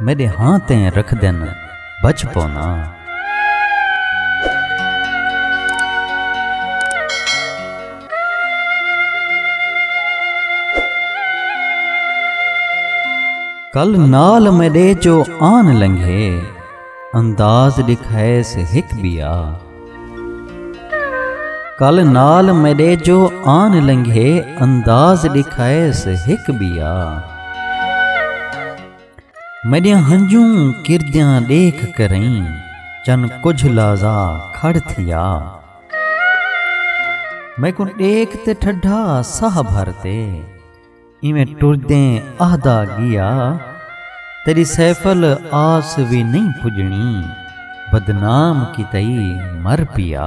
میݙے ہاں تیں رکھدن بچ پونا۔ کل نال میݙے جو آن لنگھے انداز ݙکھائیس ہک ٻیا۔ کل نال میݙے جو آن لنگھے انداز ݙکھائیس ہک ٻیا۔ میݙیاں ہنجوں کردیاں ݙیکھ کرئیں چن کجھ لازا کھڑ تھیا میکوں ݙیکھ تے ٹھڈا ساہ بھر تے ایویں ٹردیں آہدا ڳیا تیݙی سیفل آس وی نئیں پڄݨی بدنام کیتائی مر پیا۔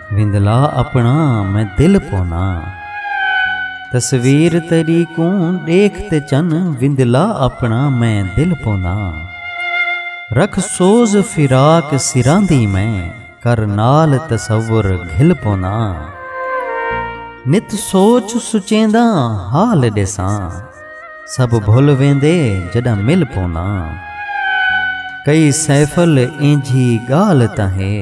وندلا اپنا میں دل پونا تصویر تیری کوں دیکھ تے چن وندلا اپنا میں دل پونا رکھ سوز فراق سراں دی میں کر نال تصور گھل پونا نت سوچ سچیندا حال ڈیساں سب بھول ویندے جڈا مل پونا کئی سیفل اینجھی گال تاں ہے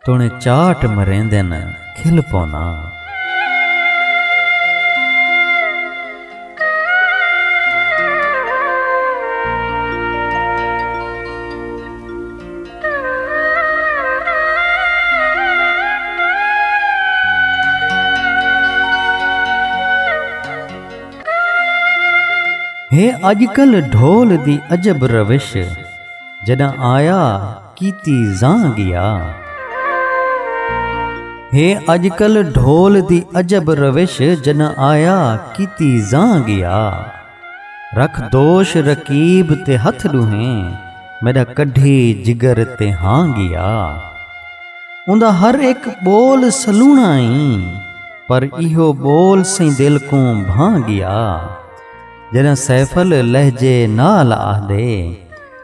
توݨیں چاٹ مریندن کھل پونا۔ ہے اڄ کل ڈھول دی عجب روش جݙاں آیا۔ کیتی زاں گیا ہے اج کل ڈھول دی عجب روش جنا آیا کیتی زاں گیا رکھ دوش رقیب تے ہتھ ڈوہیں میڈا کڈھی جگر تے ہاں گیا اوندا ہر اک بول سلونا ایں پر ایہو بول سئیں دل کوں بھاں گیا جنا سیفل لہجے نال آہدے